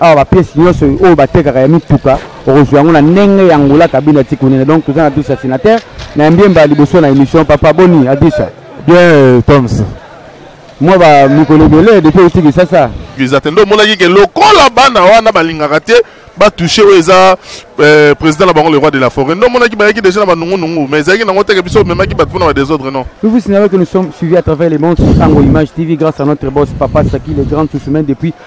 awa ba pièce nyonso oyo batekaka ya mituka okozwa yango na ndenge ya ngola kabine ya tikunene donc toza na dusa sénateur na mbiemba ya liboso na émission papa boni adusa bien toms mwa ba mikolo ebele depuis outi kisasa visa te nde omonaki ke lokola bana wana balingaka te batouche oyo eza euh, président na bango le roi de la forêt nde omonaki bayaki déjà na banungunungu mais ezalaki nango teke biso omemaki bato mpona badésordre non Nous vous signalons que nous sommes suivis à travers les mondes sur Sango Image TV grâce à notre boss Papa Saki, le grand sous-semaine depuis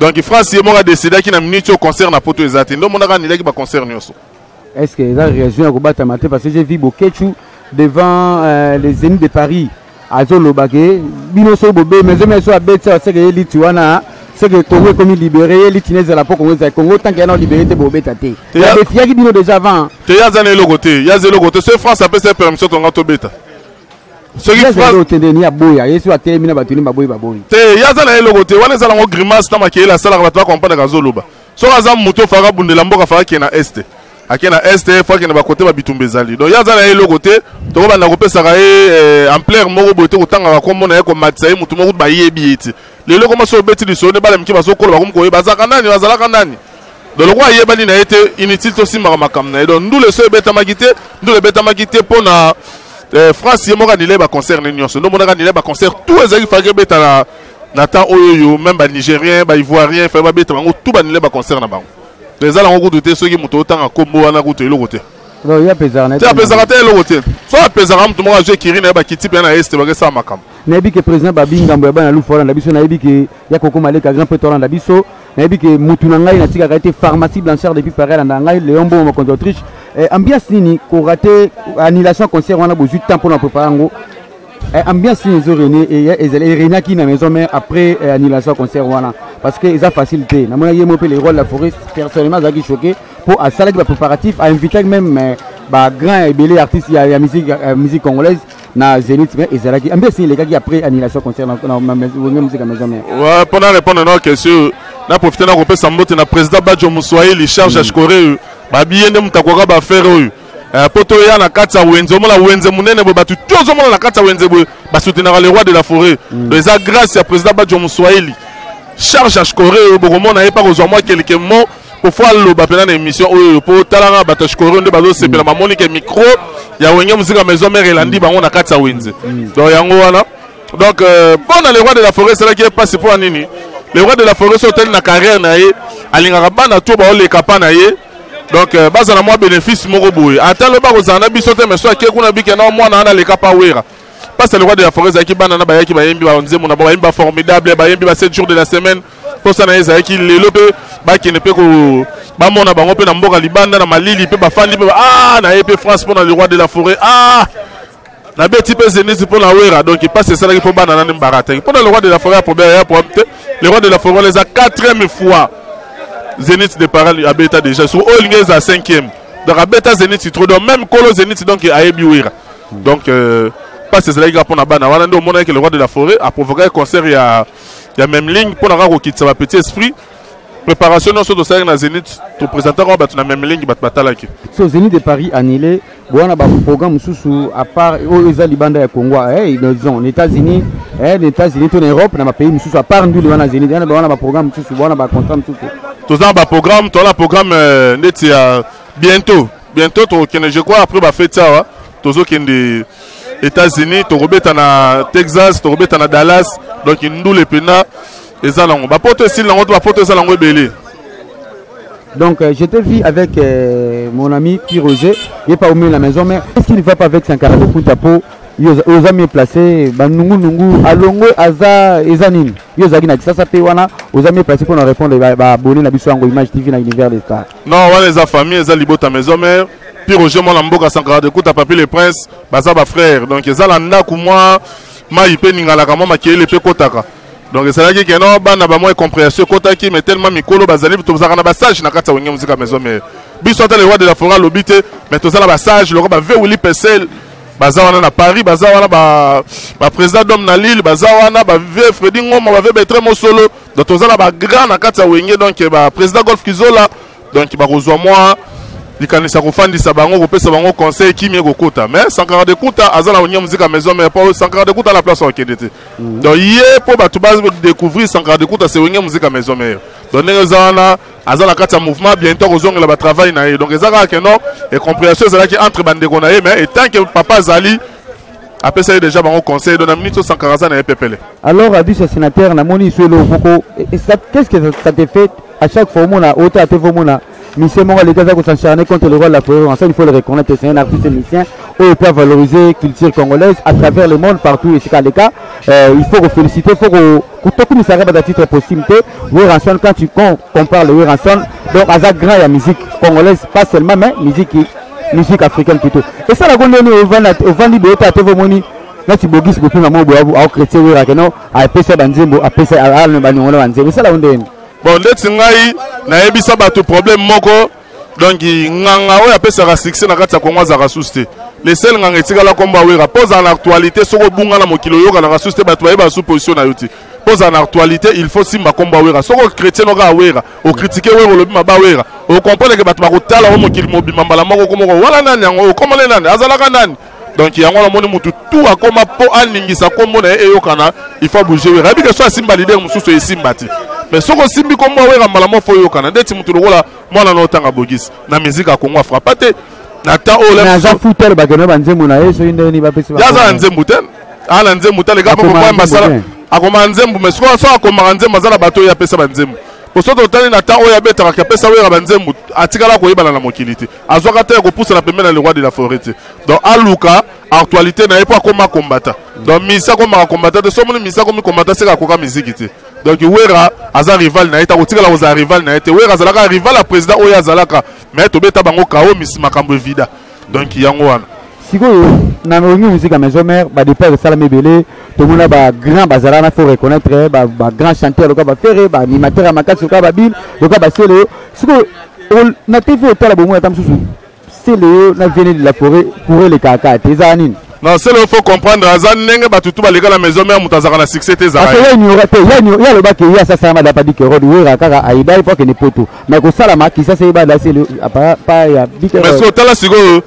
donc france ye moko adecidaki na minute oyo concert na poto eza te nde omonaka anilaki baconcert nyonso est ce que eza réaction ya kobatama te parce que j'ai vu boketshu devant euh, les zénith de paris azoloba ke bino soki bobemi ezomi eso abeti awa seke ye liti wana seke congo ekomi libere ye liti nezala mpo congo ezali congo tanke yana olibere te bobeta te yadefiyaki bino déjà avant te ye aza na eloko te ye aza eloko te soki france apesa ye permission tonga tobeta soki ni aboya yesu atelemi na bato ni baboyi baboyi te ye aza na ye eloko te wana eza nango grimace na makeyele asalaka bato bakompanaka azoloba soki aza moto ofaka abundela mboka afaka kee na este ake na este fo akende bakote babitumba ezali donc ye aza na ye eloko te tokobanda kopesaka ye eh, ampleur moko boye te kotangaka nkombo na ye komatisa ye motu moko bayebi ye ti lelo koma so obeti lisolo nde bana mike bazokola bakomi koyeba azalaka nani azalaka nani donc lokola ayebani na ye te inutile tosimbaka makambo na ye donc ndule so ebetamaki te ndule ebetamaki te mpo na eh, france ye moko anile baconcert ne nyonso nde omonaka anile baconcert tout ezalaki faki ebeta na, na temps oyo oyo meme banigérien baivoirien fai babeta bango tout banile baconcert na bango eza nango kutu te soki moto otanga nkombo wana kutu eloko te Non, il y a pesaka na te apesaka te eloko te so apesaka moto moko azwi ekiri na ye bakiti mpe na este bakesala makambo nayebi ke président babi ngambo ya bana lufu olanda biso nayebi ke ya kokoma leka grand prêtre olanda biso nayebi ke mutu na ngai natikaka ye te pharmacie blanchard depuis paris alanda ngai léon bongo mokonzi autriche eh, ambiance nini korate annulation ya concert wana bozwi temps mpo na prépare yango eh, ambiance nini ezo rene ezali erenaki na maison mère après eh, annulation ya concert wana parce que eza facile te namonaki ye moko mpe le roi de la forêt personnellement azalaki choqué mpo asalaki ba préparatif ainvitaki même euh, ba grand ebele ya artiste ya, ya musique, ya musique congolaise na zenith mais ezalaki ambi esini elekaki après annulation concert wenge musique ya maison mère ouais, mpo na répondre na question na profite na kopesa mbote na président badjo moswahili charge ya mm. shikore oyo babiye nde moto akoka bafere oyo euh, mpo toya na kati ya wenze omona wenze monene boye bato to ozomona na kati ya wenze boye basoutenaka le roi de la forêt mm. donc eza grâce ya président badjo moswahili charge ya shikore oyo bokomona ye mpa kozwa mwa kelike mo kofo aloba mpena na émission oyo mpo talanga bato ya shikorio nde bazosepela bamoni ke micro ya wenge mosika maison mare elandi bango na kati ya wenze donc yango wana donc euh, mpo na le roi de la forêt esalaki ye mpasi mpo ya nini le roi de la forêt so otali na carrière na ye alingaka bana to baoleka pa na ye donc euh, bazala mwa bénéfice moko boye ata loba kozala na biso te mais so ake kuna bike na mwana wana aleka pa wera mpasi ya le roi de la forêt ezalaki bana na bayaki bayembi banzembo na bango bayembi ba formidable bayembi ba 7 jours de la semaine mposa na ye ezalaki lelo mpe bakende mpe bamona bango mpe na mboka libanda na malili mpe bafandi mpe ah, na ye mpe france mpo na le roi de la forêt ah nabeti mpe zenith mpo na wera donc mpasi esalaki mpo bana nani mbarataki mpo na le roi de la forêt ya problème ya problème te le roi de la forêt wana eza quatrième fois zenith de paral abeta déjà sur oyo elingi eza cinquième donc abeta zenith trop donc même kolo zenith donc ayebi wera donc euh, mpasi ezalaki kaka mpo na bana wana nde omonaki le roi de la forêt aprovokaki concert ya ya même ligne mpo na kaka kokitisa ba petit esprit préparation nyonso tosalaki na zénith topresentaka bato na même ligne bato batalaki so zénith de paris annulé bowana baprogramme mosusu à part oyo eza libanda ya congo eh, disons na états-unis eh, na états-unis to na europe na bapays mosusu à part ndule wana zénith wana bawana baprogramme mosusu bawana bacontra mosusu toza na baprogramme toza na programme euh, ndeti ya bientôt bientôt tokokende je crois après bafeti awa tozokende États-Unis, tokobeta na Texas, tokobeta na Dallas, donc ndule pena eza nango. Ba poto esili nango, ba poto eza nango ebele. Donc euh, j'étais vu avec euh, mon ami Pierre Roger, il n'est pas au milieu de la maison, mais est-ce qu'il ne va pas avec Sankara Kunta po oza mieux placé banungu nungu alongwe aza eza nini yo ozalaki na kisasa mpe wana oza mieux placé mpo na répondre baabonne na biso yango image tv na univers de star Non, wana eza famille, eza libota maison mère. Puis Roger mwana mboka Sankara de Kuta Papi le Prince, baza ba frère. Donc eza la ndaku mwa mayi pe ningalaka mwa makele pe kotaka. Donc ezalaki que non bana ba mwa comprehension kotaki mais tellement mikolo bazali tozaka na ba sage na kati ya wenge musika maison mère. Biso ata le roi de la forêt lobi te, mais tozala ba sage loko ba Veuli Pesel baza wana na Paris, baza wana ba ba président d'homme na Lille, baza wana ba Vieux Freddy Ngoma, ba Vieux Betre Mosolo. donc toza na bagrand na kati ya wenge donc baprésident golf kizola donc bakozwa mwa likanisa kofandisa bango kopesa bango conseil kimia ekokota mais sankara de kuta aza na onia muzika maison mère po sankara de kuta na place akende te mm. donc ye mpo bato badécouvrir sankara de kuta se wenge muzika maison mère donc ndenge eza wana aza na kati ya mouvement bientôt akozongela batravail na ye donc eza kaka keno e comprehension ezalaki entre bandeko na ye mais etant que papa azali apesaki deja bango conseil do na minute osankaka aza na ye pepele alors abus ya sénateur namoni iso elo moko qu'est-ce que ça te fait à chaque fois omona ota ape fo omona musicien moko aleki aza kosencharne contre le roi de la forêt en ça il faut le reconnaître c'est un artiste musicien oyo peut valoriser culture congolaise à travers le monde partout esika aleka euh, il faut koféliciter faut ko tokumisa kaka titre possible te Werrason quand tu con, compares le Werrason donc aza grand ya musique congolaise pas seulement mais musique musique africaine plutôt et ça la gonde ni ovanda ovandi boye ta tevo moni na ti bogis bo pima mobo abu au chrétien Werra que non a pesa banzembo a pesa a ne banongola banzembo ça la gonde bon ndeti ngai nayebisa bato problème moko donc nganga oyo apesaka succès na kati ya kongo azalaka susu te le sel nganga etikala nkombo ya wera mpo ozala na actualité soki obunga na mokili oyokanaka susu te bato bayeba su position na yo te mpo ozala na actualité il faut simba nkombo ya wera soki ochrétien okaka wera okritike wera olobi maba wera okomprendre ke bato bakotala o mokili mobimba mbala moko komoko wana nani yango okomone nani azalaka nani donc yango wana omoni mutu tu akoma mpo aningisa nkombo na ye eyokana il faut abouge wera yebi ke so asimba lider mosusu esimba ti mais soki osimbi nkombo awera mbala mwa fo oyokana ndeti motu lokola mwana na otanga bogisi na miziki akongo afrapa te na temps oyo aza futa alobaka na banzembo na ye soki ndeni bapesi ye aza na nzembo te aa na nzembo te aleka mokomoya masala akomaka nzembo mais sikoyo so akomaka nzembo aza na bato oyo apesa banzembo bosoto otali na temps oyo abetaka ke apesa wera banzembo atikala koyebana na mokili te azwaka te ya kopusana pembeni na le roi de la forêt te donc aluka actualité na ye mpo akoma kombata donc misa akomaka kombata te so omoni misa akomi kombata seka akoka miziki te donc wera aza rival na ye te akotikala kozala rival na ye te wera azalaka rival ya président oyo azalaka mais tobeta bango kao misi makambo evida donc yango wana sikoyo na olingi musique ya maison mère badepart esalami ebele tomona bagrand bazala na faut reconnaître bagrand chanteur lokola bafere baanimateur ya makasi lokola babile lokola basele yo sikoyo na tv otala bomoi ata mosusu sele yo na viene de la forêt pour elekaka kaka te ezala nini non sele yo faut comprendre aza ndenge bato tu baleka na maison mère moto azalaka na succès te ezalaka ye ignora te ye alobaki ye asasala madapa di kerode wera kaka ayeba ye po akende poto mais kosalama kisasa ye badasele pa ya bikemais otala sikoyo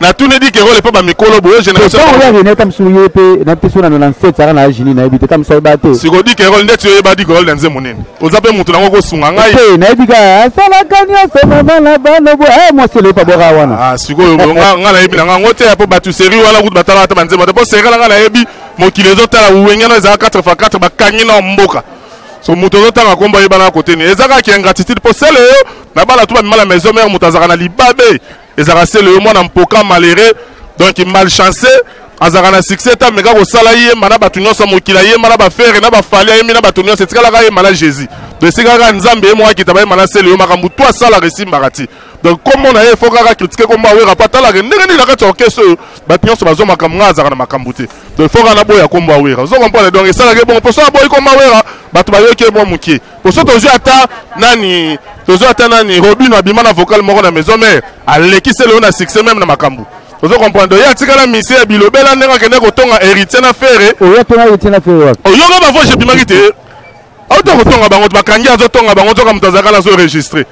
na tuni di kekole epa bamikolo boye générationoya rene ta mosusu ye mpe na mpeso nano na nset saka na agini nayebi te ta mosusu ayeba te siko di kekole ndeti oyeba di kekole na nzembo nini oza mpe motu nango kosunga ngai te nayebi ka asalaka nyonso mama na bana bo e mwasi eloyepa boka wana ah, sikoyo ngai nayebi na ngai yango te mpo bato seri wana kutu batalaka ata banzembo te mpo serikala ngai nayebi mokili ezotala wengana ezala 4 fa 4 bakangi na mboka so moto ozotanga nkombo ayebana kote nini eza kaka ingratitude mpo sele yo na bana tu bamema na maison mare moto azalaka na libabe ezalaka se leyo mwana mpoka malere donc malchance azalaka na succès ta meka kosala yemba na bato nyonso mokila yemba na bafere na bafali ayembi na bato nyonso etikalaka yemba na jésus donc esikaka nzambe ye moko akita bayemba na se leyo makambo to asalaka esimbaka ti donc kombo na ye fo kaka kritike kombo awera mpo atalaka ndenge nini na kati ya orkestre oyo bato nyonso bazwa makambo ngai azalaka na makambo te donc fo kaka naboya kombo awera ozo comprendre donc esalaka ye bongo mpo so aboyi kombo awera bato bayoki ye mwa moke poso tozwi ata nani tozwi ata nani robino abima na vocal moko na maison mare alekisi eloo na succès meme na makambo ozo comprendre ye atikala misie ya bilobela ndenge akende kotonga héritier na fere oyoka bavoice ebimaki te auta kotonga bango bakangi azotonga bango nzoka moto azalaka na azo enregistre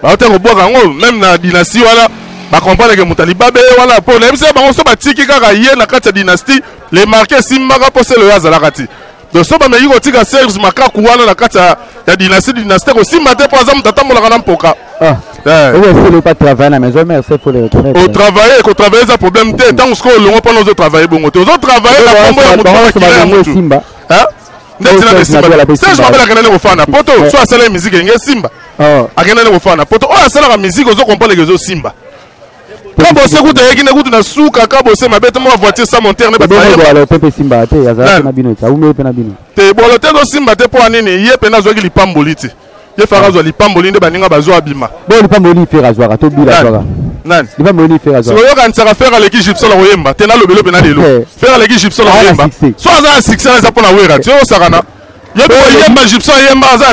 bauta kobwaka yango meme na dynastie wana bakomprendre ke moto alibabe ye wana mpo nayebisa bango so batiki kaka ye na kati ya dynastie le marke esimbaka mpo selo ye azalaka ti donc so bameki kotika serge makaku wana na kati ya ya dynastie dynastie kosimba te mpo aza moto atambolaka na mpoka Ah. Eh. Oyo esili pa travailler na maison mère c'est pour le retrait. otravaille kotravaille eza problème te ntango sikoyo olongo mpona ozotravaille bongo te ozotravaille na kombo ya moto Bango bakila ya bango motu esimba. Hein? ndeti Oyo na Serge Mabel ape esimba serge mabel ye. akendani kofana na poto so asalaki miziki enge esimba Oh. akendani kofana na poto oyo asalaka miziki ozo komponeke ezosimba kabose kutu ayeki nde kutu na suka kabose mabe te mwa voiture sa montere ne baebwalo te mpe simba te azalaki na bino te aumeli mpe na bino te bwalo te ezosimba te mpo anini ye mpenza azwaki lipamboli ti ye faka azwa lipamboli nde baninga bazwa abima bo lipamboli fere azwaka to bila azwaka nani lipamboli nini fere azwaka oyokanisaka fere aleki gipsol akoyemba te nalobelo mpe na lelo eh. fere aleki gipsol akoyemba so aza na succès eza mpo na wera ti oyosakana yemba egyptien ayemba aza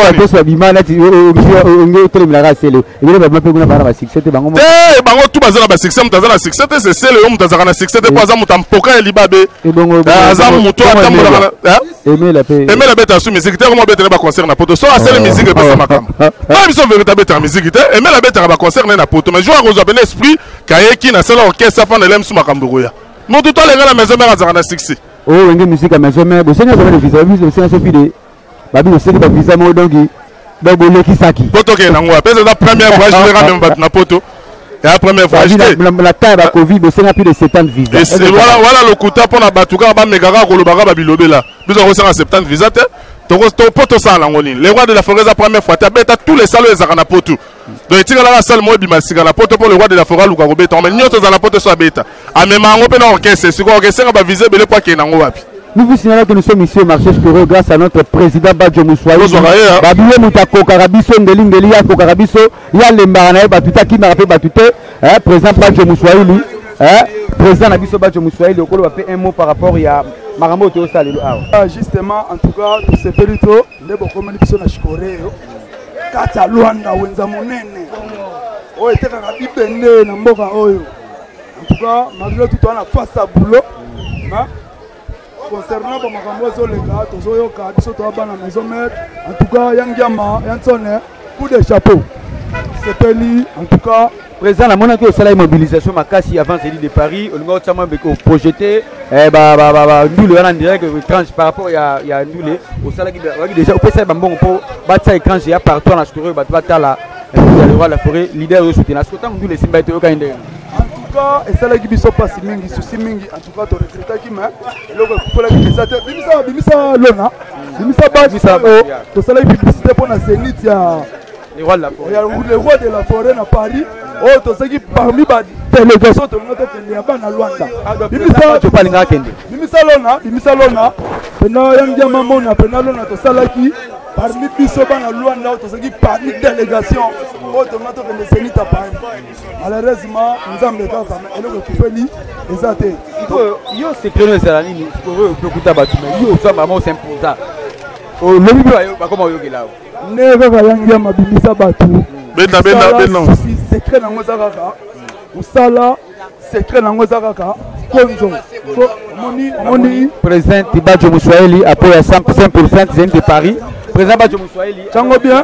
akosa bima nati onge otelemelaka sele ebele bama mpe kuna bana basuccès te bango te bango tu baza na basuccès moto aza na succès te se sele yo moto azalaka na succès te mpo aza moto ampoka ya libabe aza moto atambolaka emela beta su miziki te koma betele baconcert na poto so asele miziki epesa makambo na biso verité abetaka miziki te emela abetaka baconcert ne na poto mais jour akozwa pene esprit kayeki na sele orchestre afanda elemisu makambo ekoya moto to alenga na maison mère azalaka na succès Oh, wenge musique à maison mère, bosenga zama de visa, biso bosenga sofi de babi bosenga ba visa mo donc donc bolekisaki. Poto ke nango, pesa za première fois je rame mbat na poto. Ya première fois acheté. La taille ba Covid bosenga plus de 70 visa. Et voilà voilà lokuta pona batuka ba megaka kolobaka ba bilobela. Biso ko senga 70 visa te. Toko to poto sala ngoni. Le roi de la forêt za première fois, ta beta tous les salles ezaka na poto. donc etikalaka sale moko ebima sika na poto mpo le roi de la foret aluka kobeta yango mai nyonso eza na poto so abeta amema yango mpe na orchestre sikoyo orchestre ba vise ebele mpo akende yango wapi Nous vous signalons que nous sommes ici au marché Spiro grâce à notre président Badjo Moussoaï. Hein. Babiye muta kokaka biso ngeli ngeli ya kokaka biso ya lembara na ye batu te akimaka mpe batu te eh, président Badjo Moussoaï lui eh, président na biso Badjo Moussoaï lokolo ba mpe un mot par rapport ya makambo oyo toyosala lelo awa. Ah, justement en tout cas tosepeli to nde bokomeli biso na shikoreo kati ya lwanda wenza monene oyo etekaka bibende na mboka oyo en tout cas malgré tout wana face ya boulot concernant bamakambo ezoleka tozoyoka biso toya bana maison mare en tout cas ya ngiama ya nsone coup de chapeau sepeli en tout cas président namonaki osalaki mobilisation makasi avant zeli de paris olingi otia mwa oprojete eh, ndule wana direct étrange par rapport ya, ya ndule osalaki ozalaki déjà opesaki bambongo mpo batia étrange ya partout na sukuru oyo bato batala eh, ya leroy la forêt leader oyo sutena soki ntango ndule esimbaki toyokani ndenge en tout cas esalaki biso mpasi mingi susi mingi Pourquoi tu regrettes qui mais eloko ekufelaki mpenza te bimisa bimisa lona bimisa baki oyo tosalaki publicité mpo na zénith ya le roi de la forêt na paris oyo oh, tozalaki parmi badélégation tolinga tokende ya bana lwanda bimisatopalingaka kende bimisa lona bimisa lona mpena yangi ya mamona mpena lona tosalaki parmi biso bana lwanda oyo tozalaki parmi délégation oyo tolinga tokende zénith ya paris malheureusement nzambe kaka eloko ekufeli eza te yo sekreno ezala nini sikoyo ope okuta bato na yo oza mama osimposa olobi mpe bakoma oyokela yo nde kaka yangi ya mabimisa bato benda benda benda sekret nango eza kaka mosala sekret nango eza kaka konzo omoni omoni president bajo moswahili apo ya 100 de paris president bajo moswahili cango bien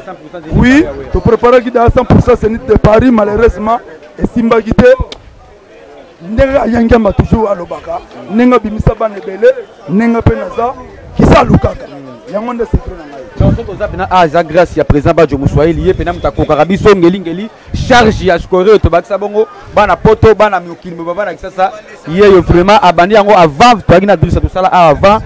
Oui, to preparaki da 100% Zenith de Paris malheureusement esimbaki te ndenge ayangama toujours alobaka ndenge abimisa bana ebele ndenge mpe naza kisa alukaka yango nde secret na ngai soki oza mpena aza grâce ya président bajo moswahili ye mpena moto akokaka biso ngelingeli charge ya scoreo tobakisa bongo bana poto bana mokili moba bana kisasa yeyo vraiment abandi yango avant toyaki na bilisa tosala awa avant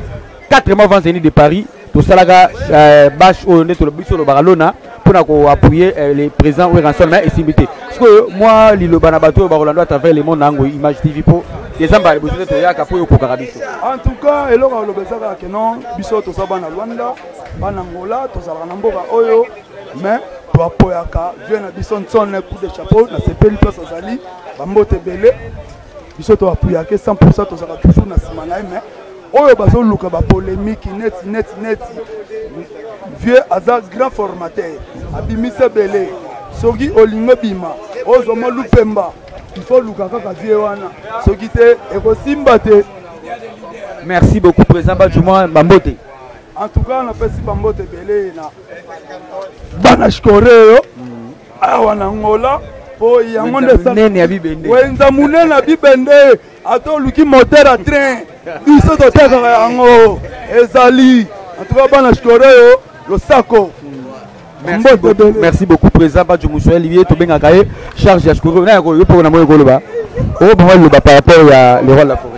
4 mois avant zeni de paris tosalaka euh, bash oyo nde biso olobaka lona mpo na koappuye euh, le président weranson mais esimbi te sikoyo mwa liloba na bato oyo bakolanda à travers le monde na yango image tv mpo dezemba liboso nde toyaka mpo oyo okokaka biso en tout cas eloko ya koloba ezaka ke non biso toza bana lwanda bana ngola tozalaka na mboka oyo mais toapoyaka vie na biso nsone coup de chapeau nasepeli place azali bambote ebele biso to apuyake 100 tozalaka toujours na nsima na ye mais oyo bazoluka bapolemiki neti neti neti vieux aza grand formateur abimisi ebele soki olingi obima ozwa mwa lupemba ifo luka kaka vie wana soki te ekosimba te merci beaucoup président bajuma bambote en tout cas napesi bambote ebele na bana shikoreyo awa na ngola po yango nde wenza monene ya bibende ata oluki moteur ya train biso totekaka yango ezali antuka bana shikoro oyo losako Merci beaucoup, merci beaucoup président Badjo Moussouel ye tobengaka ye charge ya shikoro na yango yo mpe na moyo koloba oyo bango loba par rapport ya le roi de la forêt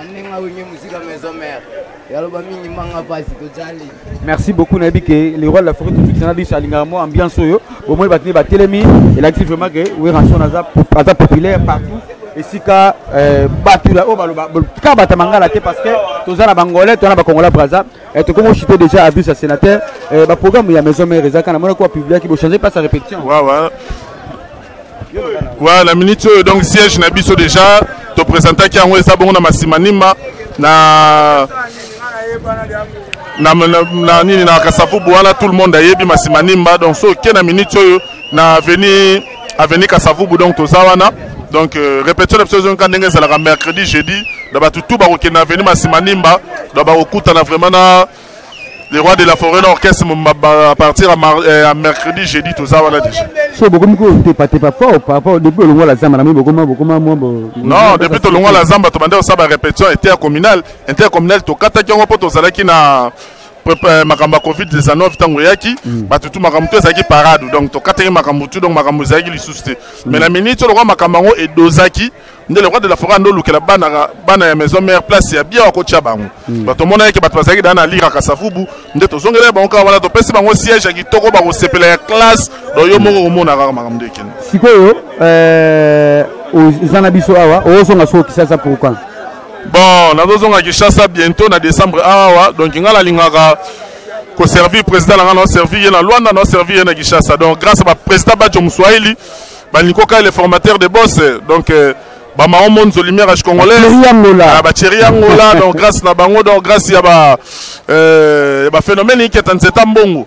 Anenga wenge musika maison mère. Yaloba mingi manga pasi tojali. Merci beaucoup nayebi ke le roi de la forêt tout ça na biso alingaka mwa ambiance oyo bomoni batini batelemi elakisi vraiment ke weranson aza aza populaire partout esika euh, bato oyo baloba kaka bato ya mangala te parce que toza na bangolais toza na bakongola braza euh, tokomi ochite déjà abus ya sénateur euh, baprogramme ya maison mère ezaka na monaki wapibliaki bochange place ya répétition wawa Voilà, na minute oyo donc siège na biso déjà to présentaki yango eza bongo na Masimanima na na, na, na nini na Kasavubu wana tout le monde ayebi Masimanimba donc so ke na minute oyo na avenue avenue Kasavubu donc toza wana donc euh, répétition na biso ezongi ndenge ezalaka mercredi jeudi na bato tout bakokende na avenue Masimanimba donc bakokutana vraiment na le roi de la forêt l'orchestre à partir à, mar, euh, à mercredi jeudi toza wana déjà so bokomi kotepatepa fort par rapport depuis olongwa la zamba namoi bokoma bokoma mwa non depuis tolongwa la zamba tobanda kosala barépétition intercommunale intercommunale tokataki yango mpo tozalaki na euh, makambo ya covid 19 ntango eyaki mm. bato tu makambo tu ezalaki parade donc tokataki makambo tu donc makambo ezalaki lisusu te mais na mm. miniti olokwa makambo yango edozaki nde le roi de la foret ando olukela bana bana ya maison mère place ya bien akotia bango hmm. bato omonaki ke bato bazalaki daa na lira kasavubu nde tozongela ya bango kaka wana topesi bango siège ya kitoko bakosepela ya classe do yo moko komona kaka makambo nde ekende sikoyo eh, eza na biso awa ozonga soko kisasa pourquoi bon nazozonga kinshasa bientôt na décembre awa donc ngai nalingaka koservir président na ngai naoservir ye na luanda naoservir ye na kinshasa donc grâce a baprésident bajo moswahili Baniko Kai le formateur de boss donc euh, ba maman Monzo lumière à congolais ah, ba chéri angola donc grâce na bango donc grâce ya ba euh, ba phénomène qui est en cet ambongo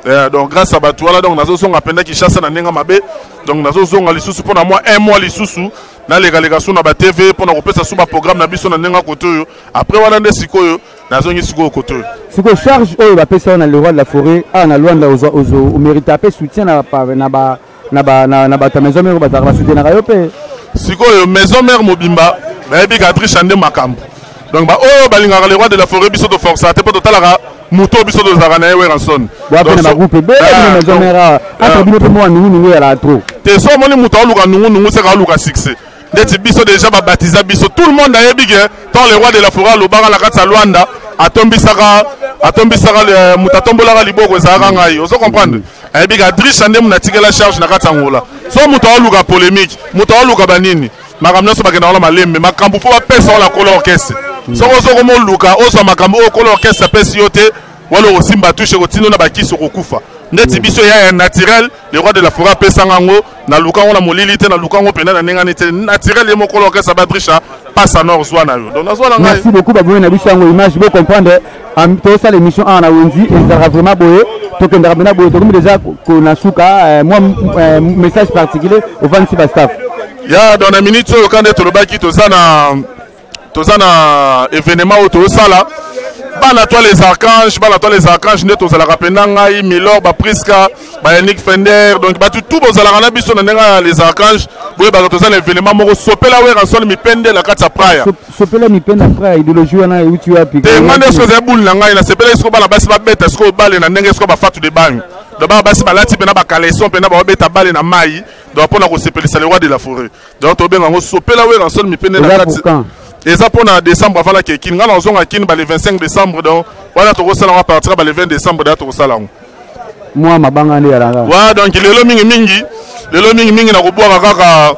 euh, donc grâce à Batouala donc nazo songa penda qui chasse na nenga mabe donc nazo songa lisusu pona moi un mois lisusu na leka leka sous na ba TV pona ko pesa sous ba programme na biso na nenga kotoyo après wana nde sikoyo nazongi sikoyo koto sikoyo charge oyo bapesa yo na le roi de la forêt awa na lwanda omerita mpe soutien na ba na ba na, na bato ya maison mère bazalaka basoutenaka yo mpe sikoyo maison mère mobimba bayebi katricha nde makambo donc baoyo balingaka le roi de la forêt biso toforsa te mpo totalaka moto oyo biso tozalaka na ye weranson wapena bagroupe ebele ah, maison mère ah, ah. entre bino mpe mwa nungunungu eyalaka trop te so omoni moto aoluka nungunungu seka aoluka succès ndeti biso deja babatiza biso tout le monde ayebi ke tant le roi de la foret alobaka na kati ya lwanda atombisaka atombisaka euh, moto atombolaka liboko ezalaka ngai ozo comprendre ayebi ke adrisha nde moto atikela charge na kati ya ngola so moto aoluka polémique moto aoluka banini makambo nyonso bakenda wana malembe makambo mpo bapesa wana kolo orkestre mm. soko ozo komoluka ozwa makambo oyo kolo orkestre apesi yo te wala okosimba tushe kotindo na bakisi okokufa ndeti mm. biso ya naturel le roi de la forêt apesa nga yango naluka yango na molili te naluka yango mpenza na ndenge ani te naturel ye mokolo orchestre badrisha pasa nor zwa na yo donc nazwa na ngai merci beaucoup baboye na biso yango image bo comprendre tosala émission awa na wenzi ezalaka vraiment boye tokendaka mpena boye tokomi deja na suka euh, mwa euh, message particulier ovandisi bastaff ya donc na minute oyo ka nde tolobaki toza na toza na evenement oyo tozosala bana toi les archanges bana toi les archanges nde tozalaka mpenza ngai milor bapriska bayanik fender donc bato tu bozalaka na biso na ndenge ya les archanges boyebaka toza na evenema moko sopela werasol mipende na kati ya praya sopela mipende ya praya ideologie wana euti wapi te ngai nde soki ezali bule na ngai nasepelaki soko bana basi babeta sikoyo bale na ndenge soko bafatu de bangi donc bana basi balati mpena bakaleson mpena baobeta bale na mai donc mpo na kosepelisa le roi de la forêt donc tobenga yango sopela werrason mipende na kati eza mpo na décembre avala ke kini ngai nazonga kini bale 25 décembre donc wana tokosala yango apartir ya bale 20 décembre da tokosala yango mwa mabanga nde yalanga wa donc lelo mingi mingi lelo mingi mingi nakobwaka kaka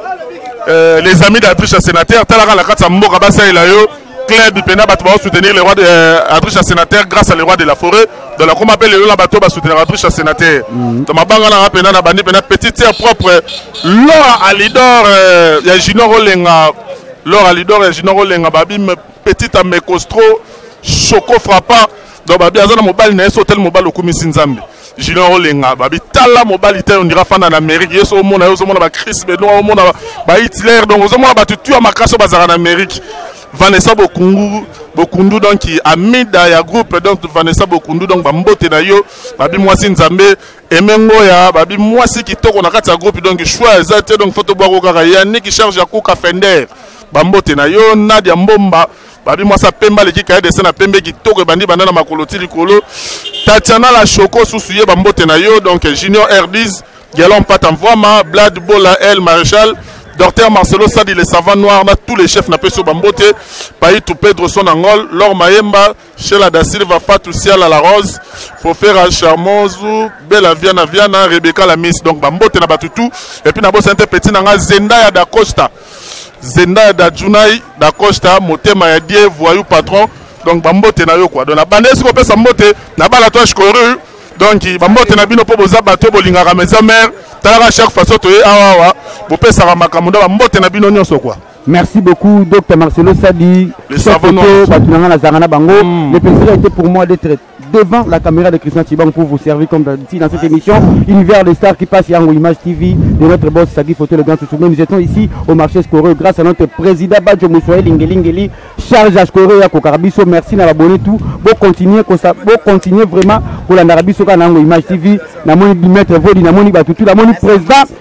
euh, les amis d'adriche ya sénateur talaka na kati ya mboka basalela yo club pena bato bao soutenir le roi de euh, adricha sénateur grâce à le roi de la forêt donc nakoma mpe lelo na bato ba soutenir adricha sénateur mhm. donc mabanga nanga mpena na bandi mpena petite sœur propre lora alidor euh, ya junior olenga lora alidor ya junior olenga babime petite amecostro choco frappa donc babi aza na mobali na ye so otali mobali okumisi nzambe junior olenga babi tala mobali te ondira fanda na amérique ye so omona ye ozomona bacris benoa omona bahitler donc ozomona bato tu ya makasi oyo bazalaka na amérique vanessa bokungu bokundu donc amida ya groupe donc vanessa bokundu donc bambote na yo babi mwasi nzambe emengoya babi mwasi kitoko na kati ya groupe donc choix eza te donc fo tobwako kaka yaniki charge ya kuka fender bambote na yo nadia mbomba babi mwasi ya pembe aleki kaye dese na pembe kitoko ebandi banda na makolo ti likolo tatiana la choco susu ye bambote na yo donc junior rdis gelon pata mvwama blad bola el maréchal docteur marcelo sadi le savant noir na tous les chefs napesi yo bambote paitu pedro son angol lor mayemba shela da silva fatu siala la rose fofera charmozu bela viana viana rebeka la miss donc bambote na bato tout epuis nabosani te peti na ngai zenda ya dacosta zenda ya dajunai da costa motema ya die voyou patron donc bambote na yo kua donc nabanda esi kopesa mbote na balatwage coru donc bambote na bino mpo boza bato oyo bolingaka maison mare talaka chaque façon toye awawa bopesaka makambo nda bambote na bino nyonso kua Merci beaucoup, Dr Marcelo Sadi. Les savants. Pour moi d'être devant la caméra de Christian Chibang pour vous servir comme d'habitude dans cette émission Univers des stars qui passe Yango Image TV de notre boss Sagi Photo le grand chouchou. Mais nous étions ici au marché Scoreux grâce à notre président Badjo Moussoye Lingelingeli charge à Scoreux ya Kokarabiso merci na abonné tout bon continuer comme ça bon continuer vraiment pour la Narabiso Kanango Image TV na moni Dimitri Vodi na moni Batutu na moni président